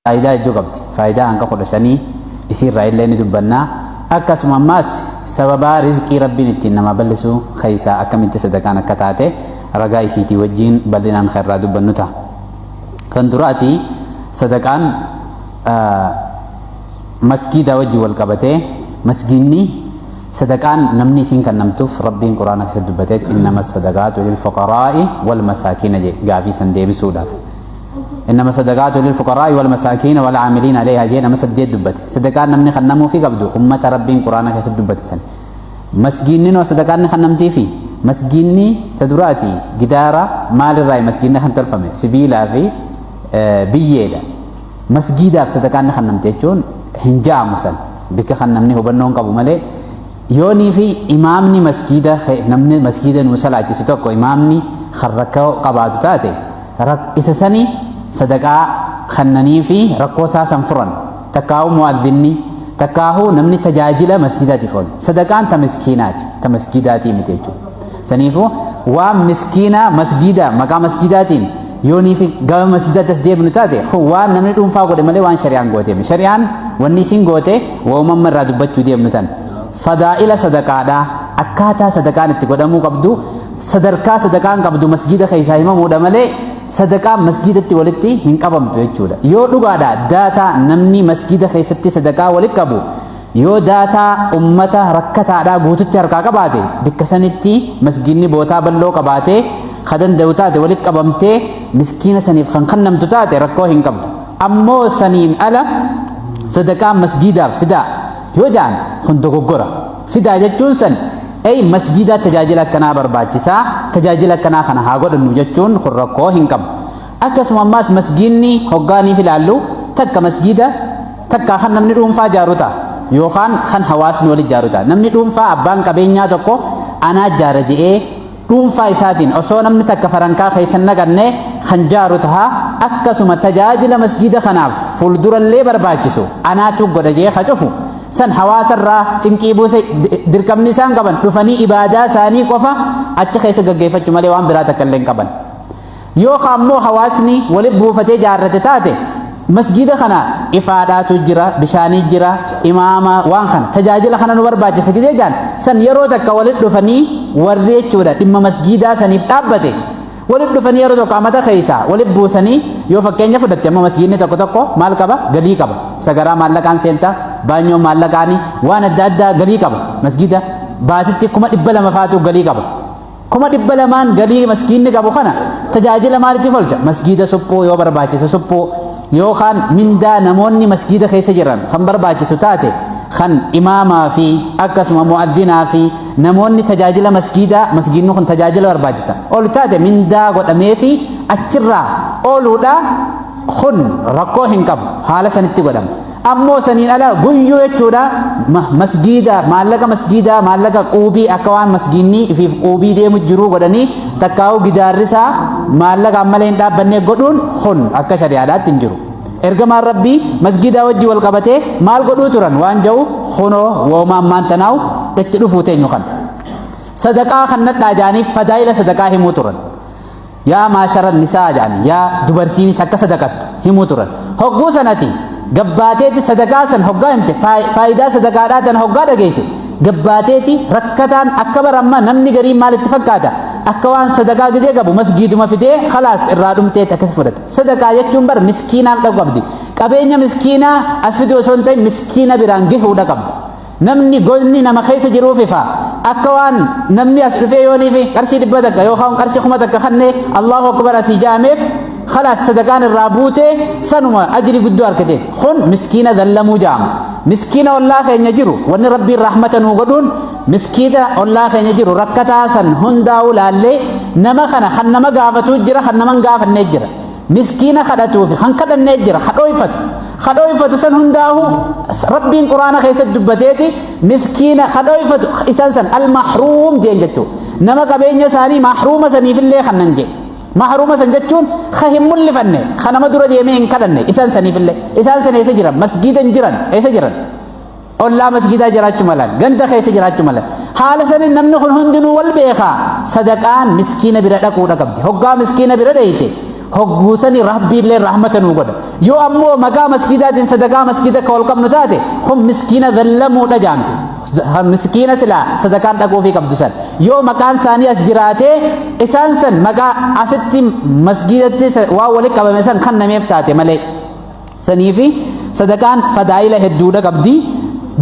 faayidaa hedduu qabdi. Faayidaa hanga kudha shanii isiirraa illee ni dubbanna. Akkasuma ammaas sababaa rizqii Rabbiin ittiin namaa bal'isuu keessaa akkamitti sadaqaan akka taate ragaa isiitii wajjiin bal'inaan kan irraa dubbannu ta'a. Kan duraati sadaqaan masgiidaa wajjin wal qabatee masgiinni sadaqaan namni isiin kennamtuuf Rabbiin Quraana keessatti dubbateet innama sadaqaatu lil fuqaraa'i wal masaakiina jedhe gaafii san deebisuudhaaf. innama sadaqaatu lilfuqaraa'i walmasaakiina walcaamiliina aleeha jee nama saddeet dubbate sadaqaan namni kannamuufi qabdu ummata rabbiin quraana keessatti dubbate san masgiinninoo sadaqaan ni kannamtiifi masgiinni ta duraati gidaara maalirraa masgiinni kan tolfame sibiilaa fi biyyeedha masgiidaaf sadaqaan ni kannamte jechuun hin ja'amu san bikka kan namni hubannoon qabu malee yoonii fi imaamni masgiida namni masgiida nuu salaachisu tokko imaamni kan rakkoo qabaatu taate isa sani sadaqaa kannanii fi rakkoo isaa san furan takkaahuu mu'adhinni takkaahuu namni tajaajila masjidaatiif oolu sadaqaan ta miskiinaati ta masjidaatii miti jechuudha saniifuu waan miskiinaa masjidaa maqaa masjidaatiin yoonii fi gama masjidaatti as deebinu taate kun waan namni dhuunfaa godhe malee waan shari'aan goote miti shari'aan wanni isin goote waumamma irraa dubbachuu deemnu tan fadaa'ila sadaqaadhaa akkaataa sadaqaan itti godhamuu qabdu sadarkaa sadaqaan qabdu masgiida keessaa himamuudha malee sadaqaan masgiidatti walitti hin qabamtu jechuudha. Yoo dhugaadha daataa namni masgiida keessatti sadaqaa walitti qabu yoo daataa ummata rakkataadhaa guututti harkaa qabaate bakka sanitti masgiidni bootaa bal'oo qabaate kan danda'u taate walitti qabamtee miskiina saniif kan kennamtu taate rakkoo hin qabdu. Ammoo saniin ala sadaqaan masgiidaaf fidaa yoo ja'an kun dogoggora. fidaa jechuun san ay masjiidaa tajaajila akkanaa barbaachisaa tajaajila akkanaa kana haa godhannu jechuun kun rakkoo hin qabu akkasuma ammaas masjiinni hoggaaniif ilaallu takka masjiida takka kan namni dhuunfaa jaaru ta'a yookaan kan hawaasni wali jaaru ta'a namni dhuunfaa abbaan qabeenyaa tokko anaa jaara je'ee dhuunfaa isaatiin osoo namni takka farankaa keessa hin naqanne kan jaaru taha akkasuma tajaajila masjiida kanaaf fuuldurallee barbaachisu anaatu godha jee ka cufu san hawaasarraa cinqii buuse dirqamni isaan qaban dhufanii ibaadaa isaanii qofa achi keessa gaggeeffachuu malee waan biraa takka illee hin qaban. yoo ka ammoo hawaasni wali buufatee jaarrate taate masgiida kana ifaadhaatu jira bishaanii jira imaama waan kana tajaajila kana nu barbaachisa gidee jaan san yeroo takka walit dhufanii warri jechuudha dhimma masgiidaa saniif dhaabbate walit dhufanii yeroo tokko amata keessa walit buusanii yoo fakkeenya fudhatte amma masgiidni tokko tokko maal qaba galii qaba sagaraa maallaqaan seenta baanyoo maallaqaanii waan adda addaa galii qaba masgiida baasitti kuma dhibba lama faatu galii qaba Kuma dhibba lamaan galii maskiinni qabu kana tajaajila maaliitiif oolcha? Masgiida suphuu yoo barbaachise suphuu yookaan mindaa namoonni masgiida keessa jiran kan barbaachisu taate kan imaamaa fi akkasuma mu'adhinaa fi namoonni tajaajila masgiidaa masgiidni kun tajaajila barbaachisa ol taate mindaa godhamee fi achirraa ooluudha kun rakkoo hin qabu haala sanitti godhama. Ammoo saniin ala guyyuu jechuudha masgiida maallaqa masgiidaa maallaqa quubii akka waan masgiinni ifiif quubii deemu jiruu godhanii takkaa'uu gidaarrisaa maallaqa ammalee hin dhaabbannee godhuun kun akka shari'aadhaatti hin jiru. Ergamaan rabbii masgiidaa wajjin wal qabatee maal godhuu turan waan ja'u kunoo woomaan maantanaa'u itti dhufuu teenyu kan. Sadaqaa kan nadhaa jaaniif fadaa'ila sadaqaa himuu turan. Yaa maasharan nisaa jedhan yaa dubartiinis akka sadaqattu himuu turan. Hogguu sanati gabbaateeti sadaqaa san hoggaa himte faayidaa sadaqaadhaa tana hoggaa dhageesse gabbaateeti rakkataan akka bara ammaa namni gariin maalitti fakkaata akka waan sadaqaa gizee qabu masgiiduma fidee khalaas irraa dhumteeti akkas fudhata. Sadaqaa jechuun bara miskiinaaf dhaqu qabdi. Qabeenya miskiinaa as fiduu osoo hin ta'in miskiina biraan gahuudha qabda. Namni goyni nama keessa jiruuf ifa. Akka waan namni as dhufee yooniif qarshii dhibba takka yookaan qarshii kuma takka kannee Allahu Akbar asii jaameef khalaas sadaqaan irraa buutee sanuma ajri guddoo argateef. Kun miskiina dallamuu jaama. Miskiina ollaa keenya jiru wanni rabbiin rahmata nuu godhuun miskiina ollaa keenya jiru rakkataa san hundaa'uu laallee nama kana kan nama gaafatuu jira kan nama hin gaafannee jira. miskiina kadhatuufi kan kadhannee jira ka dhooyfatu ka dhooyfatu san hundaahu rabbiin quraana keessatti dubbateeti miskiina ka dhooyfatu isaan san almahruum jeen jechuu nama qabeenya isaanii mahruuma saniifillee kannan jee mahruuma san jechuun ka hin mul'ifanne ka nama dura deemee hin kadhanne isaan saniifillee isaan san eessa jiran masgiida hin jiran eessa jiran ollaa masgiidaa jiraachuu malan ganda keessa jiraachuu malan haala saniin namni kun hundinuu wal beekaa sadaqaan miskiina bira dhaquudha qabdi hoggaa miskiina bira dheeyte hogguu sanii rabbiillee rahmata nuu godha yoo ammoo maqaa masgiidaatiin sadaqaa masgiida akka wal qabnu taate kun miskiina zallamuudha jaamti miskiina silaa sadaqaan dhaquufii qabdu san yoo maqaan isaanii as jiraatee isaan san maqaa asitti masgiidatti waan walitti qabame san kan nameef taate malee saniifi sadaqaan fadaa'ila hedduudha qabdi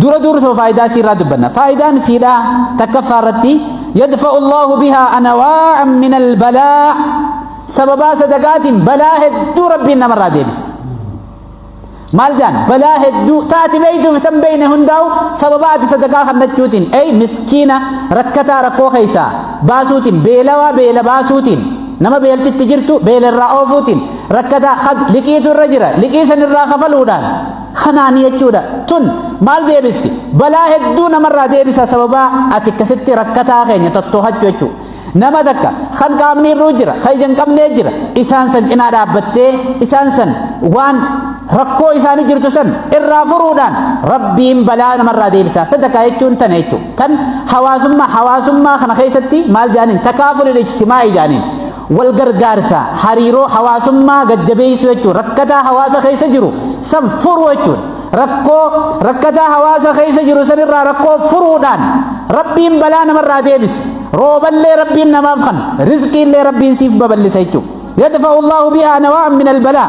dura dursoo faayidaa isiirraa dubbanna faayidaan isiidhaa takkaffaa irratti yadfa'u allahu bihaa anawaa'an min albalaa sababaa sadaqaatiin balaa hedduu rabbiin namarraa deebisa maal jaan balaa hedduu taati beeytuuf tan beeyne hundaa'u sababa ati sadaqaa kannachuutiin ey miskiina rakkataa rakkoo keessaa baasuutiin beelawaa beela baasuutiin nama beeltitti jirtu beelarraa oofuutiin rakkataa had liqiitu irra jira liqii san irraa kafaluudhaan kanaan jechuudha tun maal deebisti balaa hedduu namarraa deebisa sababaa ati akkasitti rakkataa keenya tottoohachu jechuu nama takka kan qaamni irruu jira kan ija hin qabnee jira isaan san cinaa dhaabbattee isaan san waan rakkoo isaanii jirtu san irraa furuudhaan rabbiin balaa namarraa deebisa sadakaa jechuun tana jechuudha tan hawaasummaa hawaasummaa kana keessatti maal jaaniin takaafulil ijtimaa'ii jaaniin Wal gargaarsa, hariiroo hawaasummaa gad-jabeessuu jechuun rakkataa hawaasa keessa jiru san furuu jechuudha. Rakkoo rakkataa hawaasa keessa jiru san irraa rakkoo furuudhaan Rabbiin balaa namarraa deebisa. Rooballee Rabbiin namaaf kan, rizqiillee Rabbiin siif babal'isa jechuudha. Yadfa'u Allaahu bihaa nawa'an minal balaa.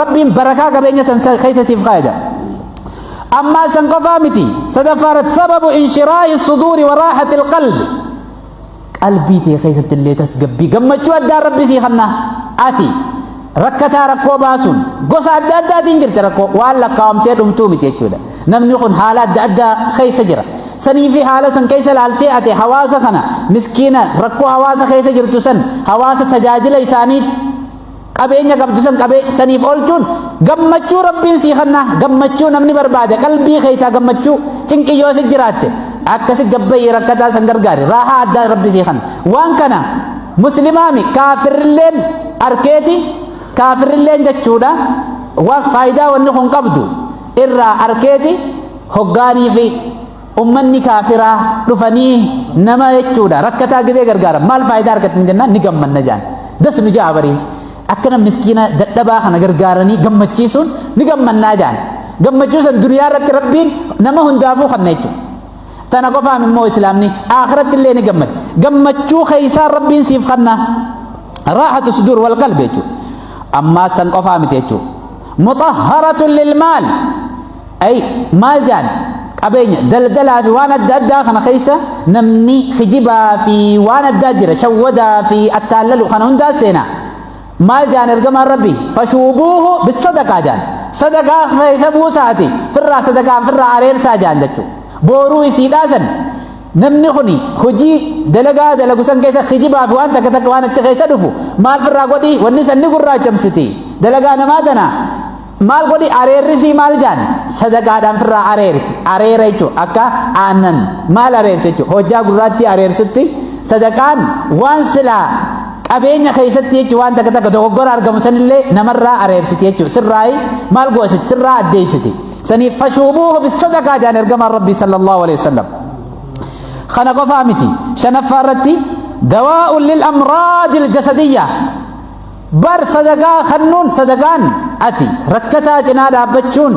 rabbiin barakaa qabeenya san keessa siif kaaya jedha ammaa san qofaa miti sadaffaa irratti sababu inshiraahi suduuri waraaxati ilqalbi qalbii tee keessatti illee tasgabbii gammachuu addaa rabbi sii kanna ati rakkataa rakkoo baasuun gosa adda addaatiin jirti rakkoo waan lakkaawamtee dhumtuu miti jechuudha namni kun haala adda addaa keessa jira sanii fi haala san keessa laaltee ate hawaasa kana miskiina rakkoo hawaasa keessa jirtu san hawaasa tajaajila isaanii qabeenya qabdu san qabee saniif oolchuun gammachuu rabbiin sii kanna gammachuu namni barbaade qalbii keessaa gammachuu cinqii yoo si jiraatte akkasi gabbayii rakkataa san gargaari raahaa addaa rabbi sii kanna waan kana muslimaami kaafirrilleen arkeeti kaafirrilleen jechuudha waan faayidaa wanni kun qabdu irraa arkeeti hoggaanii fi ummanni kaafiraa dhufanii nama jechuudha rakkataa gibee gargaara maal faayidaa argatan jennaan ni gammanna jaan das nu ja'a barii akkana miskiina dadhabaa kana gargaaranii gammachiisuun ni gammannaa jaan gammachuu san duniyaa irratti rabbiin nama hundaafuu kanna jechuudha tana qofaan immoo islaamni akhiratti illee ni gammada gammachuu keessaa rabbiin siif kanna raaxatu sudur wal qalbe jechuudha ammaa san qofaa miti jechuudha muxahharatun lilmaal Ay maal jaan qabeenya daldalaa fi waan adda addaa kana keessa namni kijibaa fi waan addaa jira shawwadaa fi attaallalu kana hundaa seena maal jaan ergamaan rabbi fashuubuuhu bisadaqaa jaan sadaqaa keessa buusaati firraa sadaqaa firraa areersaa jaan jechuu booruu isii dhaasan namni kuni hojii dalagaa dalagu san keessa kijibaa fi waan takka takka waan achi keessa dhufu maal firraa godhi wanni san ni gurraachamsiti dalagaa namaa tanaa Maal godhi areerrisii maal jaan sadaqaadhaan firraa areersi areera jechuun akka aannan maal areersi jechuun hojjaa gurraattii areersutti sadaqaan waan silaa qabeenya keessatti jechuun waan takka takka dogoggora argamu sanillee namarraa areersiti jechuun sirraayi maal goositi sirraa addeessiti saniif fashuubuuhu bisadaqaa jaan ergamaan rabbii sallallahu alaihi wasallam kana qofaa miti shanaffaa irratti dawaa'un lil amraadil jasadiyyaa Bar sadaqaa kannuun sadaqaan ati rakkataa cinaa dhaabbachuun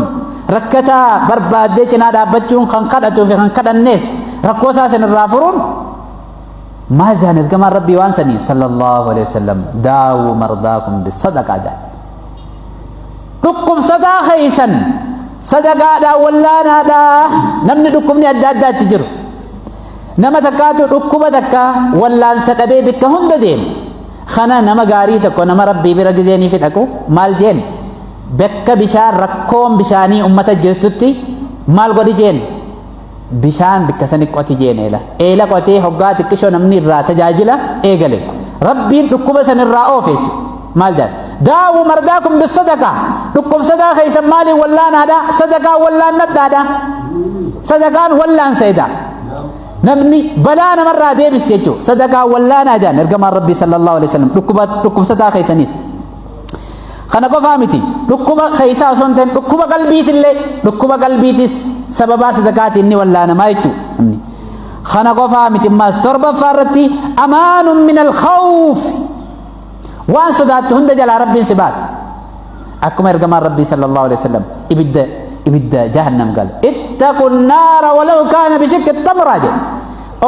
rakkataa barbaaddee cinaa dhaabbachuun kan kadhatuu fi kan kadhannees rakkoo isaa isin irraa furuun maal jaan ergamaan rabbii waan sanii sallallahu alaihi wasallam daawuu mardaakum bisadaqaa jaan dhukkubsataa keessan sadaqaadhaa wallaanaadhaa namni dhukkubni adda addaatti jiru nama takkaatu dhukkuba takka wallaansa dhabee bakka hunda deema Kana nama gaarii tokko nama rabbii bira gizeenii fi dhaqu maal jeen bakka bishaan rakkoon bishaanii ummata jirtutti maal godhi jeen bishaan bikka sani qoti jeen eela eela qotee hoggaa xiqqishoo namni irraa tajaajila eegale rabbiin dhukkuba san irraa oofe maal jedha daawu mardaa kun bisadaqaa dhukkubsataa keessan maaliin wallaanaadha sadaqaa wallaannadhaadha sadaqaan wallaanseedha Namni balaa namarraa deebisti jechuudha. Sadaqaa wallaanaa jaan ergamaan Rabbii sallallahu alaihi wasallam dhukkuba dhukkubsataa keessaniis. Kana qofaa miti dhukkuba keessaa osoo hin ta'in dhukkuba qalbiitillee dhukkuba qalbiitis sababaa sadaqaatiin ni wallaanamaa jechuudha. Namni. Kana qofaa miti ammaas torbaffaa irratti amaanun min al-khawf waan sodaattu hunda jalaa rabbiin si baasa akkuma ergamaan rabbii sallallahu alaihi wasallam ibidda ibidda jahannam gal ittaqu naara walau kaana bishikki tamraa jedhe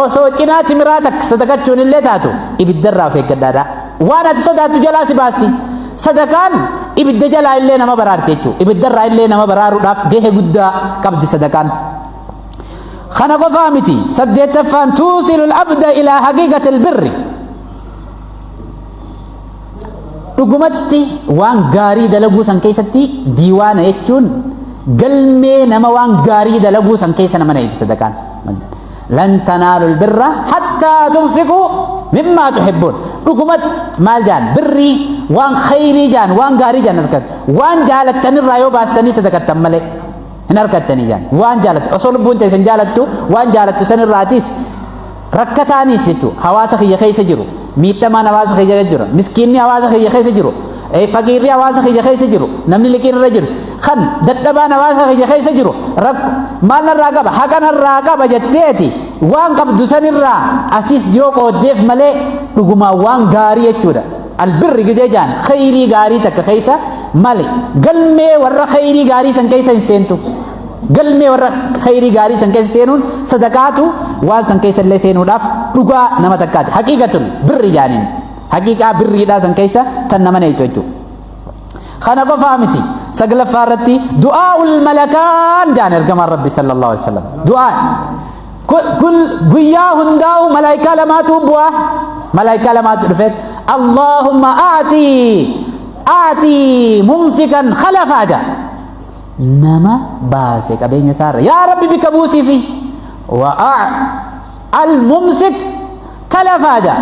osoo cinaa timiraa takka sadaqachuun illee taatu ibiddarraa of eeggadhaadha waan ati sodaattu jalaa si baasti sadaqaan ibidda jalaa illee nama baraarti jechuudha ibiddarraa illee nama baraaruudhaaf gahee guddaa qabdi sadaqaan kana qofaa miti saddeettaffaan tuusilu abda ilaa haqiiqati albirri dhugumatti waan gaarii dalaguu san keessatti diiwaana jechuun galmee nama waan gaarii dalaguu san keessa nama na'iti sadaqaan lan tanaalu birra hattaa tunfiqu mimmaa tuhibbuun dhugumatti maal jaan birrii waan khayrii jaan waan gaarii jaan harkat waan jaalattan irraa yoo baastanii sadaqattan malee hin harkattanii jaan waan jaalattu osoo lubbuun teessan jaalattu waan jaalattu san irraatiis Rakkataanis jechuudha hawaasa kiyya keessa jiru miidhamaan hawaasa kiyya keessa jiru miskiinni hawaasa kiyya keessa jiru faqiirri hawaasa kiyya keessa jiru namni liqiin irra jiru kan dadhabaan hawaasa kiyya keessa jiru rakko maal narraa qaba haqa narraa qaba jetteeti waan qabdu sanirraa atis yoo qooddeef malee dhugumaan waan gaarii jechuudha albirri gidee jaan khayrii gaarii takka keessa male galmee warra khayrii gaarii san keessa hin seentu galmee warra khayrii gaarii san keessa seenuun sadaqaatu waan san keessa illee seenuudhaaf dhugaa nama takkaati haqiiqatun birri jaaniin haqiiqaa birriidhaa san keessa tan nama neeytu jechuudha. Kana qofaa miti saglaffaa irratti du'aa ul malakaan jaan ergamaan rabbi sallallahu alaihi wasallam du'aa kun guyyaa hundaa'u malaayikaa lamaatu bu'aa malaayikaa lamaatu dhufeet Allahumma aatii aatii mumsikan khalafaa jaan nama baase qabeenya isaarra yaa rabbi bika buusiifi wa'a al-mumsik talafaa jaa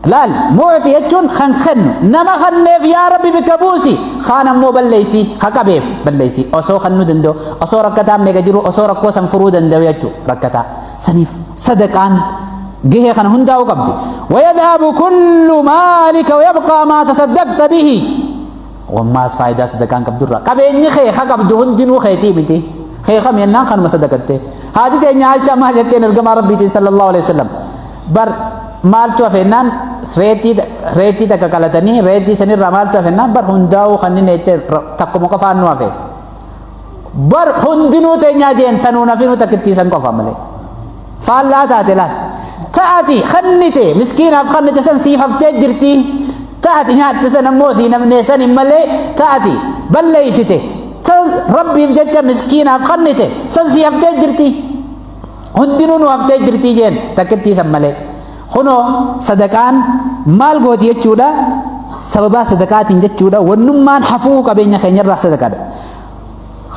laal mu'ti jechuun kan kennu nama kanneef yaa rabbi bika buusi kaan ammoo balleessi ka qabeef balleessi osoo kannuu danda'u osoo rakkataan meeqa jiru osoo rakkoo san furuu danda'u jechuu rakkataa saniif sadaqaan gahee kana hundaa'uu qabdi wayadhaabu kullu maalika wayabqaa maa tasaddaqta bihi Wammaas faayidaa sadaqaan qabdu irraa qabeenyi kee ka qabdu hundinuu keetii miti. Kee kami ennaan kanuma sadaqattee. Haati teenya Aishaa maal jetteen ergamaa Rabbiitiin sallallahu alaihi wasallam. Bar maaltu hafe ennaan reetii reetii takka qalatanii reetii sanirraa maaltu hafe ennaan bar hundaa'uu kanneen jettee takkuma qofaan nu hafe. bar hundinuu teenyaa jeen tanuu nafinuu takkittii san qofa malee faallaa taate laal ta'ati kannite miskiinaaf kannite san siif haftee jirti ta'ati nyaatte san ammoo sii namnee san hin malee ta'ati balleeysite tan rabbiif jecha miskiinaaf kannite san sii haftee jirti hundinuu nu haftee jirti jeen takkittii san malee Kunoo sadaqaan maal gooti jechuudha sababaa sadaqaatiin jechuudha wannummaan hafuu qabeenya keenyarraa sadaqadha.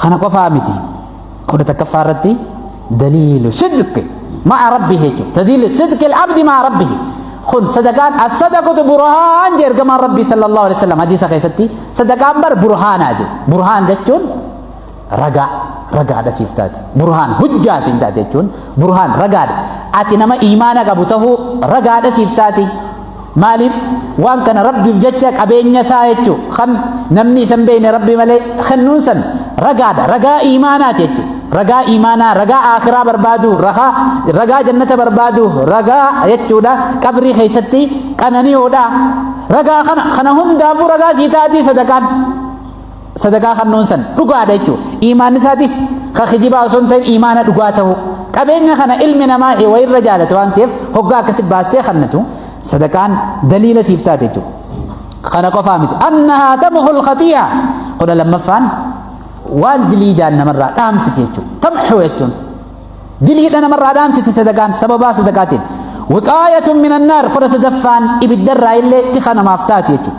Kana qofaa miti kudha takkaffaa irratti daliilu sidqi ma'a rabbi jechuudha daliilu sidqi abdi ma'a rabbi kun sadaqaan as-sadaqatu burhaan jedhe ergamaan rabbii sallallahu alaihi wasallam hadiisa keessatti sadaqaan bar burhaanaa jedhe burhaan jechuun ragaa ragaadha siif taate burhaan hujjaa siin taate jechuun burhaan ragaadha ati nama iimaana qabu ta'uu ragaadha siif taate maaliif waan kana rabbiif jecha qabeenya isaa jechuu kan namni isan beekne rabbi malee kennuun san ragaadha ragaa iimaanaati jechuu ragaa iimaanaa ragaa aakiraa barbaadu ragaa ragaa jannata barbaadu ragaa jechuudha qabrii keessatti qanani'oodha ragaa kana kana hundaafuu ragaa sii taate sadaqaan sadaqaa kannuun san dhugaadha jechuudha. Iimaan isaatis ka kijibaa osoo hin ta'in iimaana dhugaa ta'uu. Qabeenya kana ilmi namaa wayirra jaalatu waan ta'eef hoggaa akkasi baastee kannatu sadaqaan daliila siif taate jechuudha. Kana qofaa miti. Annahaa tamhul khatiyaa. Kudha lammaffaan waan dilii jaan namarraa dhaamsiti jechuudha. Tamhuu jechuun diliidha namarraa dhaamsiti sadaqaan sababaa sadaqaatiin. Wixaayatun minan naar kudha sadaffaan ibiddarraa illee tika namaaf taate jechuudha.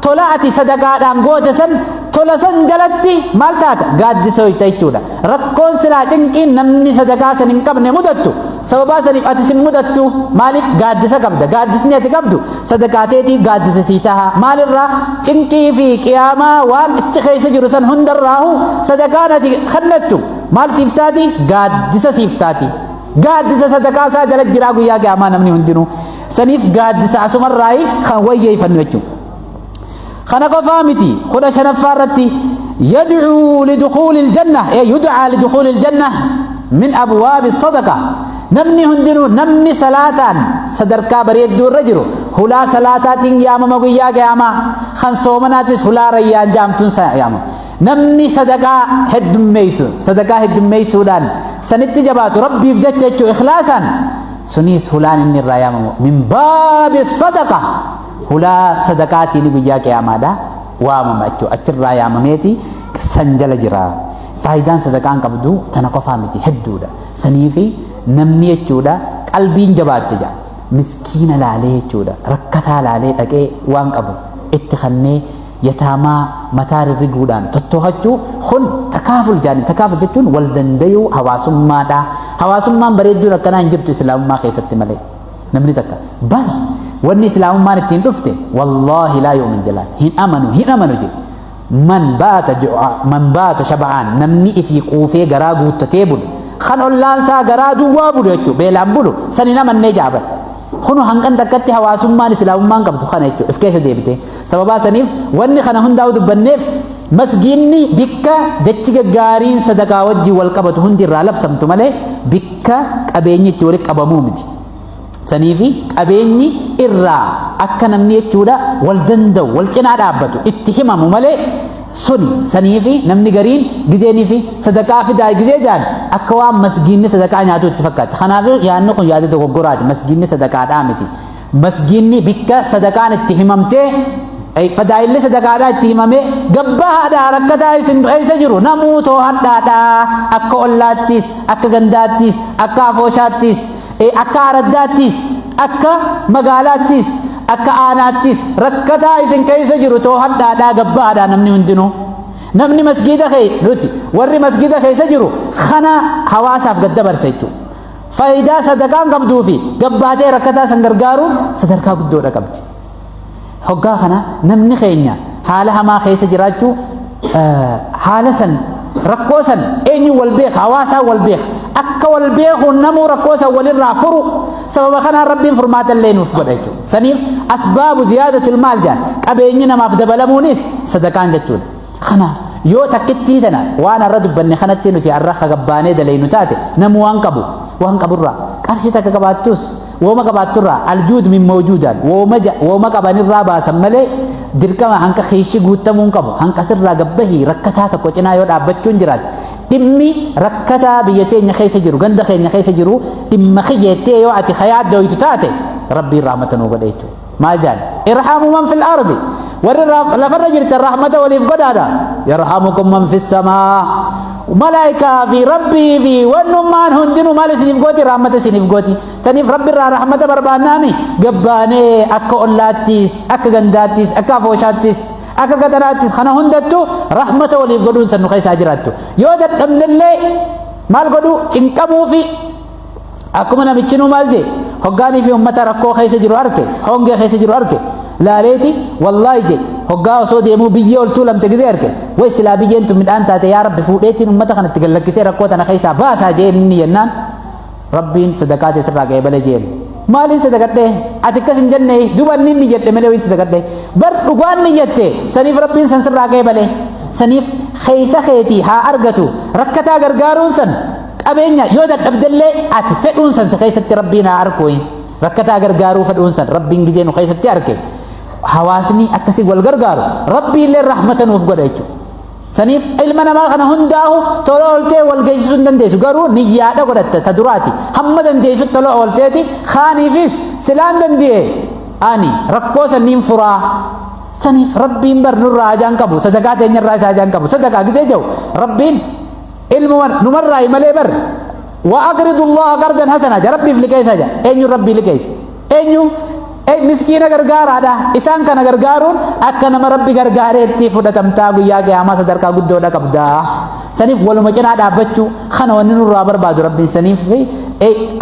tola ati sadaqaadhaan goote san tola san jalatti maal taata gaaddisa hoyta jechuudha rakkoon silaa cinqiin namni sadaqaa san hin qabne mudattu sababaa saniif ati sin mudattu maaliif gaaddisa qabda gaaddisni ati qabdu sadaqaa teetii gaaddisa sii taha maalirraa cinqii fi qiyaamaa waan achi keessa jiru san hundarraahu sadaqaan ati kannattu maal siif taati gaaddisa siif taati gaaddisa sadaqaa isaa jala jiraa guyyaa qiyaamaa namni hundinuu saniif gaaddisa asumarraayi kan wayyeeyfannu jechuudha. Kana qofaa miti kudha shanaffaa irratti yad'uu lidukuulil janna ee yud'aa lidukuulil janna min abwaabi sadaqa namni hundinuu namni salaataan sadarkaa bareedduu irra jiru hulaa salaataatiin yaamama guyyaa qiyaamaa kan soomanaatis hulaa rayyaan jaamtuun yaamama. Namni sadaqaa heddummeessu sadaqaa heddummeessuudhaan sanitti jabaatu rabbiif jecha jechuun ikhlaasaan suniis hulaan inni irraa yaamamu min baabi sadaqa hulaa sadaqaatiin guyyaa qiyaamaadha waamama jechuudha achirraa yaamameeti san jala jira faayidaan sadaqaan qabdu tana qofaa miti hedduudha saniifi namni jechuudha qalbiin jabaatte jedha miskiina laalee jechuudha rakkataa laalee dhaqee waan qabu itti kannee yataamaa mataa rirriguudhaan tottoohachuu kun takaaful jaani takaaful jechuun wal dandayuu hawaasummaadha hawaasummaan bareedduun akkanaa hin jirtu islaamummaa keessatti malee namni takka bar wanni islaamummaan ittiin dhufte wallaahi laa yu'min jalaan hin amanu hin amanu jedhe man baata ju'a man baata shaba'aan namni ifii quufee garaa guuttatee bulu kan ollaan isaa garaa duwwaa bulu jechuudha beelaan bulu san hin amannee jaaban kunu hangan takkatti hawaasummaan islaamummaan qabdu kana jechuudha if keessa deebite sababaa saniif wanni kana hundaa'u dubbanneef masgiinni bikka jechi gaggaariin sadaqaa wajjin wal qabatu hundi irraa labsamtu malee bikka qabeenyi itti walitti qabamuu miti saniifi qabeenyi irraa akka namni jechuudha wal danda'u wal cinaa dhaabbatu itti himamu malee suni saniifi namni gariin gizeeniifi sadaqaa fidaa gizee jaan akka waan masgiinni sadaqaa nyaatu itti fakkaata kanaaf yaadni kun yaada dogoggoraati masgiinni sadaqaadhaa miti Masgiinni bikka sadaqaan itti himamtee ay fadaa'illi sadaqaadhaa itti himamee gabbahaadhaa rakkataa isin keessa jiru namuu toohadhaadhaa akka ollaattis akka gandaattis akka afooshaattis ee akka araddaattis akka magaalaattis akka aanaattis rakkataa isin keessa jiru toohadhaadhaa gabbahaadhaa namni hundinuu namni masgiida kee nuti warri masgiida keessa jiru kana hawaasaaf gad dabarsa jechuudha. faayidaa sadaqaan qabduu fi gabbaatee rakkataa san gargaaruun sadarkaa guddoodha qabdi. Hoggaa kana namni keenya haala hamaa keessa jiraachuu haala san rakkoo san eenyu wal beeka hawaasaa wal beeka akka wal beekuun namuu rakkoo san walirraa furu sababa kanaan rabbiin furmaata illee nuuf godha jechuudha. Saniif asbaabu ziyaadatul maal jedhan qabeenyi namaaf dabalamuunis sadaqaan jechuudha. Kanaaf yoo takkittii tana waan arra dubbanne kanatti nuti arra hagabbaanee dalaynu taate namu waan qabu waan qaburraa qarshii takka qabaattus wooma qabaatturraa aljuud min mawjuudaan wooma ja- wooma qabanirraa baasan malee dirqama hanqa kiishi guuttamuun qabu hanqa sirraa gabbahii rakkataa tokko cinaa yoo dhaabbachuun jiraate dhimmi rakkataa biyya teenya keessa jiru ganda keenya keessa jiru dhimma kiyyeettee yoo ati kayaa dooytu taate rabbiin rahmata nuu godhe jechuudha. maal jaan irhamu man fil ardi warri lafarra jirtan rahmata waliif godhaadha yarhamukum man fis samaa malaa'ikaa fi rabbii fi wannummaan hundinuu maal isiniif gooti rahmata isiniif gooti saniif rabbi irraa rahmata barbaannaami gabbaanee akka ollaattis akka gandaattis akka afooshaattis akka qaxaraattis kana hundattu rahmata waliif godhuun sannu keessaa jiraattu yoo dadhabnellee maal godhu cinqamuu fi akkuma namichinuu maal jee hoggaanii fi ummata rakkoo keessa jiru arke hongee keessa jiru arke laaleeti wallaahi jee hoggaa osoo deemuu biyyee oltuu lamte gizee arke way silaa biyyeen tun midhaan taate yaa rabbi fuudheetiin ummata kanatti gallakkisee rakkoo tana keessaa baasaa jee inni jennaan rabbiin sadaqaa teessirraa ga'ee bale jeen maaliin sadaqadhee ati akkas hin jenne duba inni inni jedhe malee wayin sadaqadhee bar dhugaan ni jette saniif rabbiin san sirraa ga'ee bale saniif keessa keetii haa argatu rakkataa gargaaruun san qabeenya yoo dadhabdellee ati fedhuun san si keessatti rabbiin haa arkuyi rakkataa gargaaruu fedhuun san rabbiin gizee nu keessatti arke hawaasni akkasii wal gargaaru rabbiillee rahmata nuuf godha jechuudha. Saniif ilma namaa kana hundaa'u tola ooltee wal geessisuu hin dandeessu garuu niyyaadha godhatta ta duraati hamma dandeessu tola oolteeti kaaniifis silaan danda'e ani rakkoo sanniin furaa saniif rabbiin bar nurraa hajaan qabu sadakaa teenyarraa isaa hajaan qabu sadakaa gidee jiru rabbiin ilmuma numarraayi malee bar wa aqridu allaha qardan hasana ja rabbiif liqeessa ja eenyu rabbii liqeessa eenyu miskiina gargaaraadha isaan kana gargaaruun akka nama rabbi gargaareetti fudhatamtaa guyyaa qiyaamaa sadarkaa guddoodha qabda saniif waluma cinaa dhaabbachuu kana wanni nurraa barbaadu rabbiin saniif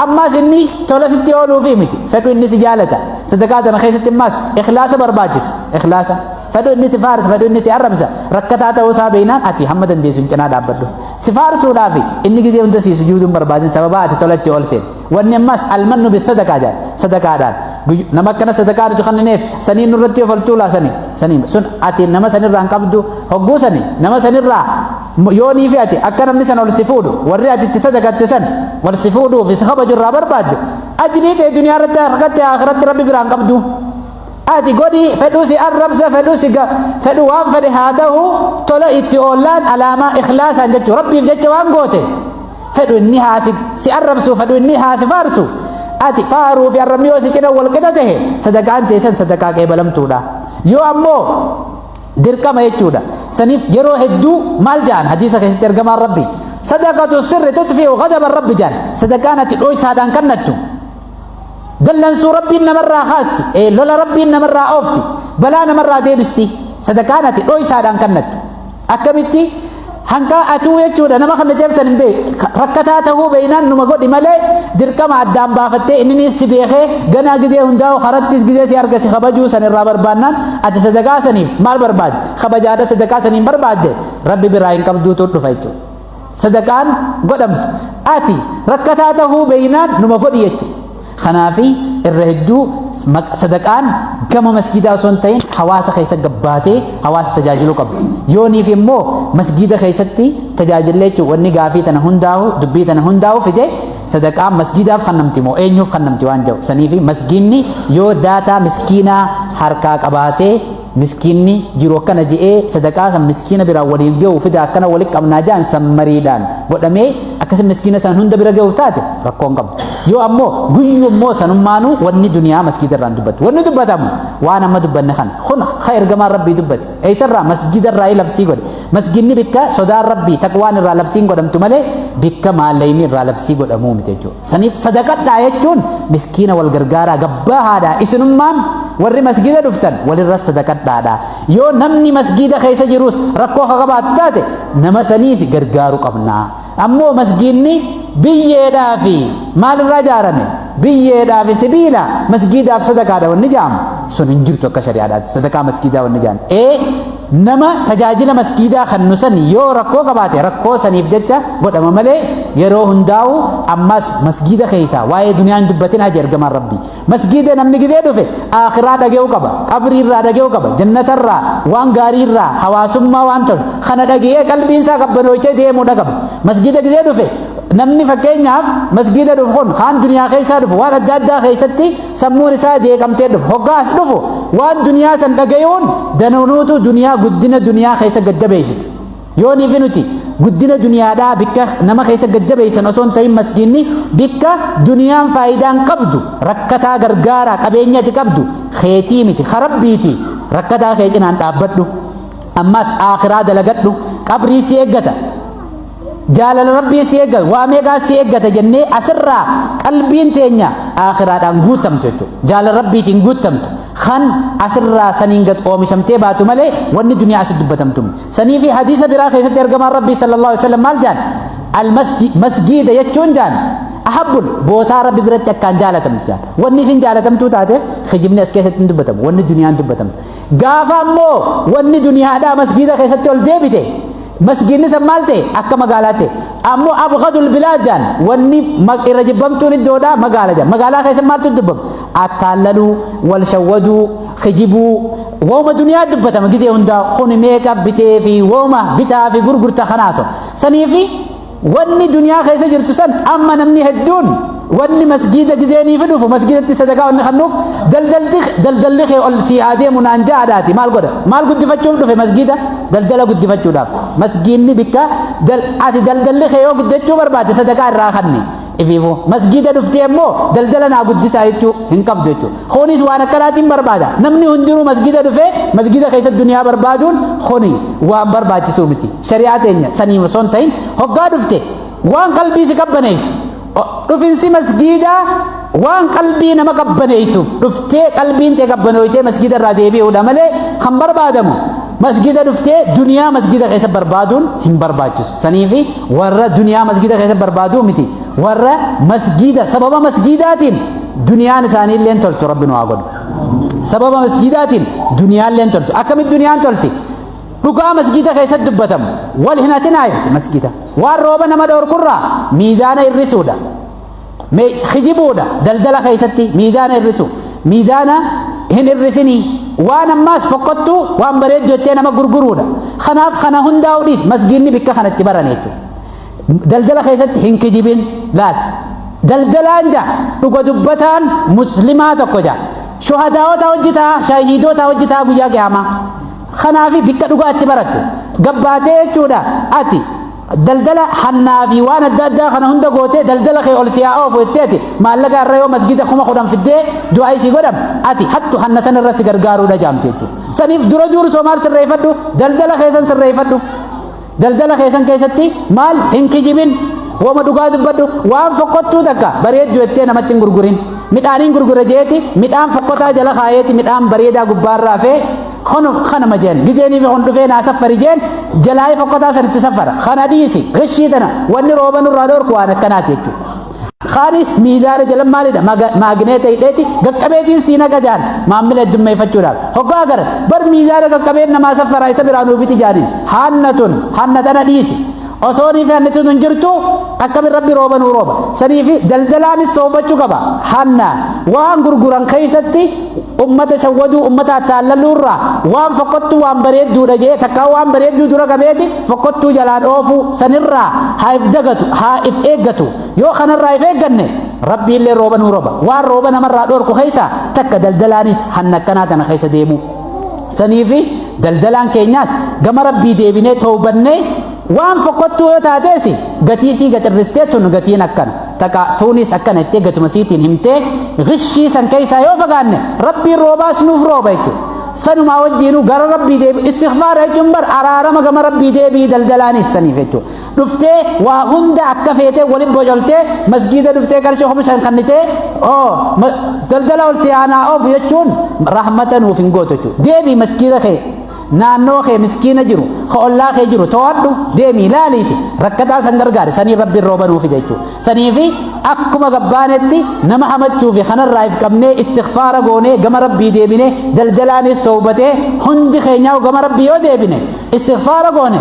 ammaas inni tola sitti ooluufi miti fedhu inni si jaalata sadaqaa tana keessatti ammaas ikhlaasa barbaachisa ikhlaasa Fedhu inni si faarsa, fedhu inni si arrabsa. Rakkataa ta'uu isaa beeknaan ati hamma dandeessu hin cinaa dhaabbadhu. Si faarsuudhaaf inni gizee hunda si sujuuduu hin barbaadin sababa ati tola itti oolteen. Wanni ammas almannu bis sadaqaa jedha. Sadaqaadhaan. Nama akkana sadaqaa nuti kennineef sanii nurratti of oltuu laasani. Sanii sun ati nama sanirraa hin qabdu hogguu sani nama sanirraa yoo nii fi ati akka namni sana ol si fuudhu warri ati itti sadaqatte san wal si fuudhuuf isa kabajurraa barbaadde ajrii ta'e duniyaa irratti akhiratti rabbi biraan qabdu. Ati godhi fedhu si arrabsa fedhu si ga fedhu waan fedhe haa ta'u tola itti oollaan alaamaa ikhlaasaan jechuudha. Rabbiif jecha waan goote fedhu inni haa si, si arrabsu fedhu inni haa si faarsu. Ati faaruu fi arrabni yoo si cina wal qixa ta'e sadaqaan teessan sadaqaa qeebalamtuudha. Yoo ammoo dirqama jechuudha. Saniif yeroo hedduu maal ja'an hadiisa keessatti ergamaan rabbi sadaqatu sirri tutfi'u ghadaba rabbi ja'an sadaqaan ati dhoysaadhaan kannattu dallansuu rabbiin namarraa kaasti ee lola rabbiin namarraa oofti balaa namarraa deebisti sadaqaan ati dhoysaadhaan kannattu akkamitti hanqaa atuu jechuudha nama kana jabsan hin beeku rakkataa tahuu beeynaan numa godhi malee dirqama addaan baafattee inni si beekee ganaa gizee hundaa'u karattis gizee si arga si kabajuu san irraa barbaannaan ati sadaqaa saniif maal barbaadde kabajaadha sadaqaa saniin barbaadde rabbi biraa hin qabduutu dhufa jechuudha. sadaqaan godhamtu ati rakkataa tahuu beeynaan numa godhi jechuudha. Kanaafi irra hedduu sadaqaan gama masgiidaa osoo hin ta'in hawaasa keessa gabbaatee hawaasa tajaajiluu qabdi. Yooniif immoo masgiida keessatti tajaajillee jechuun wanni gaafii tana hundaa'u dubbii tana hundaa'u fide sadaqaan masgiidaaf kan namti moo eenyuuf kan namti waan jedhu saniifi masgiinni yoo daataa miskiinaa harkaa qabaatee Miskiinni jiru akkana je'ee sadaqaa san miskiina biraan waliin gahu fida akkana wali qabnaa ja'an san mariidhaan godhamee akkasi miskiina san hunda bira gahuuf taate rakkoo hin qabu. Yoo ammoo guyyu immoo sanummaanuu wanni duniyaa masgiida irraan dubbatu. Wanni dubbatamu waan amma dubbanne kana. Kun ha ergamaan rabbii dubbate. Eessarraa masgiida irraa labsii godhe. Masgiinni bikka sodaan rabbii taqwaan irraa labsiin godhamtu malee bikka maallayni irraa labsii godhamuu miti jechuudha. Saniif sadaqadhaa jechuun miskiina wal gargaaraa gabbaa haadhaa isinummaan warri masgiida dhuftan walirra sadaqadhaadha. Yoo namni masgiida keessa jirus rakkoo akka qabaatu taate nama saniif gargaaru qabna. Ammoo masgiidni biyyeedhaa fi maalirraa ijaarame? Biyyeedhaa fi sibiila masgiidaaf sadaqaadha wanni jaamu. Sun hin jirtu akka shari'aadhaatti sadaqaa masgiidaa wanni jaamu. Ee Nama tajaajila maskiidaa kannu san yoo rakkoo qabaate rakkoo saniif jecha godhama malee yeroo hundaa'u ammas masgiida keessaa waa'ee duniyaa hin dubbatinaa jedhe ergamaan rabbii. Masgiida namni gidee dhufe aakiraa dhage'uu qaba, qabrii irraa dhage'uu qaba, jannata irraa waan gaarii irraa hawaasummaa waan tolu kana dhage'ee qalbiin isaa qabbanoochee deemuu dhaqaba. Masgiida gidee dhufe namni fakkeenyaaf masgiida dhufu kun kaan duniyaa keessaa dhufu waan adda addaa keessatti sammuun isaa jeeqamtee dhufu hoggaa as dhufu waan duniyaa san dhagayuun danuunuutu duniyaa guddina duniyaa keessa gaddabeessiti yoo niifi nuti guddina duniyaadhaa bikka nama keessa gaddabeessan osoo hin ta'in maskiinni bikka duniyaan faayidaan qabdu rakkataa gargaaraa qabeenyati qabdu keetii miti karabbiiti rakkataa kee cinaan dhaabbadhu ammas aakiraa dalagadhu qabrii si eeggata jaalala rabbii si eeggata waa meeqaa si eeggata jennee asirraa qalbiin teenya aakhiraadhaan guutamtu jechuudha jaalala rabbiitiin guutamtu kan asirraa saniin gad oomishamtee baatu malee wanni duniyaa asi dubbatamtu sanii fi hadiisa biraa keessatti ergamaan rabbii sallallahu alaihi wasallam maal jaan almasjid masgiida jechuun jaan ahabbul bootaa rabbi biratti akkaan jaalatamtu jaan wanni isin jaalatamtuu taateef kijibni as keessatti hin dubbatamu wanni duniyaan dubbatamtu Gaafa ammoo wanni duniyaadhaa masgiida keessatti ol deebite masgiidni san maal ta'e akka magaalaa ta'e ammoo abgadul bilaad jaan wanni irra jibbamtuun iddoodhaa magaala jaan magaalaa keessatti maaltu dubbama akkaan laluu wal shawwaduu kijibuu wooma duniyaa dubbatama gizee hundaa kuni meeqa bitee fi wooma bitaa fi gurgurta kanaaso sanii fi Wanni duniyaa keessa jirtu san amma namni hedduun wanni masgiida gizeeniifi dhufu masgiidatti sadaqaa wanni kannuuf daldalti daldalli kee ol sii haa deemu naan ja'adhaati maal godha maal guddifachuuf dhufe masgiida daldala guddifachuudhaaf masgiinni bikka dal ati daldalli kee yoo guddachuu barbaade sadaqaa irraa kanni ifiifu masgiida dhuftee immoo daldala naa guddisaa jechuu hin qabdu jechuu kunis waan akkanaatiin barbaada namni hundinuu masgiida dhufee masgiida keessa duniyaa barbaaduun kuni waan barbaachisuu miti shari'aa teenya saniif osoo hin ta'in hoggaa dhufte waan qalbii si qabbaneessu dhufinsi masgiidaa waan qalbii nama qabbaneessuuf dhuftee qalbiin tee qabbanooytee masgiida irraa deebi'uudha malee kan barbaadamu masgiida dhuftee duniyaa masgiida keessa barbaaduun hin barbaachisu saniifi warra duniyaa masgiida keessa barbaaduu miti warra masgiida sababa masgiidaatiin duniyaan isaanii illee toltu rabbi nu haa godhu sababa masgiidaatiin duniyaan illee toltu akkamitti duniyaan tolti Dhugaa masgiida keessatti dubbatamu wal hin hatinaa jetti masgiida. Waan rooba nama dhoorkurraa miizaana hir'isuudha. Hijibuudha daldala keessatti miizaana hir'isu. Miizaana hin hir'isinii. Waan ammaas fokkottuu waan bareedu jettee nama gurguruudha. Kanaaf kana hundaa hudhiis masgiinni bikka kanatti barane jechuudha. Daldala keessatti hin kijibin laal. Daldalaan jaa dhuga dubbataan muslimaa tokko jaa. Shuhadaawota hojjetaa shahiidota hojjetaa guyyaa qiyaamaa. Kanaafi bikka dhugaa itti baratte gabbaatee jechuudha ati daldala hannaa fi waan adda addaa kana hunda gootee daldala kee ol siyaa oofu jettee ati maallaqa irra yoo masgida kuma kudhan fiddee du'aa isii godham ati hattu hanna san irra si gargaaruudha jaamte jechuudha. Saniif dura duuru soomaal sirreeffadhu daldala kee san sirreeffadhu. daldala keessan keessatti maal hin kijibin woma dhugaa dubbadhu waan fokkottuu takka bareeddu jettee namatti hin gurgurin midhaaniin gurgura jeeti midhaan fokkotaa jala kaayeeti midhaan bareedaa gubbaarra hafee kunu kanuma jeen gizeeniif kun dhufee naa saffari jeen jalaayee fokkotaa sanitti saffara kana dhiisi gashii tana wanni rooba nurraa dhoorku waan akkanaati jechuudha. Kaanis miizaana jala maalidha maagineeta hidheeti qaqqabeetiin sii naqa jaan maammila heddummeeffachuudhaaf hoggaa agarra bar miizaana qaqqabeen namaa saffaraa isa biraa nuu biti jaaniin hanna tun hanna tana dhiisi osoo nii fi hanni tun hin jirtu akkamin rabbi rooba nuu rooba sanii fi daldalaanis toobachuu qaba hanna waan gurguran keessatti ummata shawwaduu ummata attaallalluu irraa waan fokkottuu waan bareedduudha jee takkaa waan bareedduu dura qabeeti fokkottuu jalaan oofuu sanirraa haa if dagatu haa if eeggatu yoo kanarraa if eegganne rabbiillee rooba nuu roba waan rooba namarraa dhorku keessa takka daldalaanis hanna akkanaa tana keessa deemu saniifi daldalaan keenyaas gama rabbii deebinee toobannee waan fokkottuu yoo taateesi gatiisii gaxirristee tun gatiin akkana Taqa tuuniis akkana jettee gatuma siitiin himtee gishii san keessaa yoo fagaanne rabbiin roobaas nuuf rooba jechuudha. Sanumaa wajjiinuu gara rabbii deebi istighfaara jechuun bar araarama gama rabbii deebii daldalaanis saniif jechuudha. Dhuftee waa hunda akka feetee waliin bocholtee masgiida dhuftee qarshii kuma shan kannitee oo daldala ol siyaanaa oofu jechuun rahmata nuuf hin gootu jechuudha. Deebii masgiida kee Naannoo kee miskiina jiru, ka ollaa kee jiru to'adhu deemii laaliiti rakkataa san gargaari sanii rabbiin rooba nuu fida jechuudha. Saniifi akkuma gabbaanetti nama hamachuu fi kanarraa if qabnee istighfaara goonee gama rabbii deebinee daldalaanis toobatee hundi keenyaa gama rabbii yoo deebine istighfaara goone